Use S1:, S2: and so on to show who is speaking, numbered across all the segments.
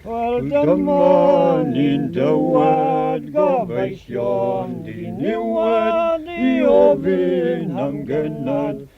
S1: Wel dyma ni'n dywed gobeithion di niwed i ofyn am gynad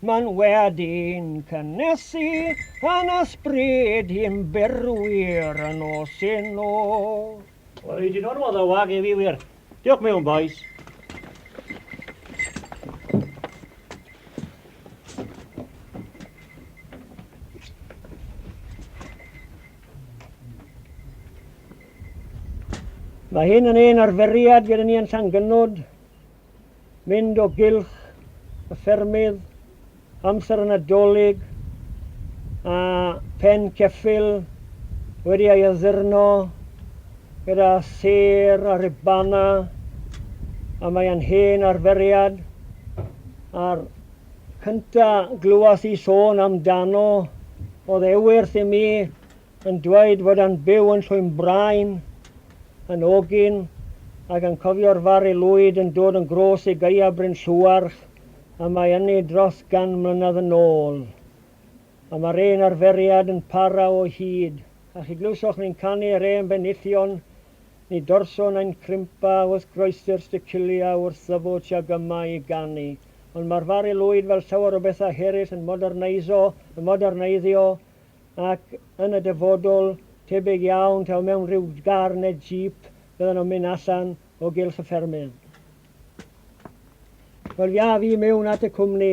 S1: Mae'n wedi'n cynnesu yn ysbryd i'n byrwyr yn nos yn nos. O rei di
S2: normal ddo wag i fi wir. Diolch mewn boys.
S1: Mae hyn yn ein arferiad gyda ni yn Llangynod. mynd o gylch y ffermydd amser y Nadolig a phen ceffyl wedi ei addurno gyda sêr a ribana a mae e'n hen arferiad a'r cynta' glywes i sôn amdano oedd e wyrth i mi yn dweud fod e'n byw yn Llwynbrain, yn ogyn, ac yn cofio'r Fari Lwyd yn dod yn grôs i Gaea Bryn Llewarch y mae yny dros gan mlynedd yn ôl. A mae'r un arferiad yn para o hyd. A chi glywsoch ni'n canu yr hen benillion, ni dorso nain crimpa wrth groesi'r sticylia wrth ddyfw tuag yma i ganu. Ond mae'r Fari Lwyd fel llawer o bethau heryll yn moderneiso, yn moderneiddio, ac yn y dyfodol, tebyg iawn taw mewn rhyw gar neu jeep fyddan nhw'n mynd allan o gylch y ffermydd. Wel, ia, fi mewn at y cwmni.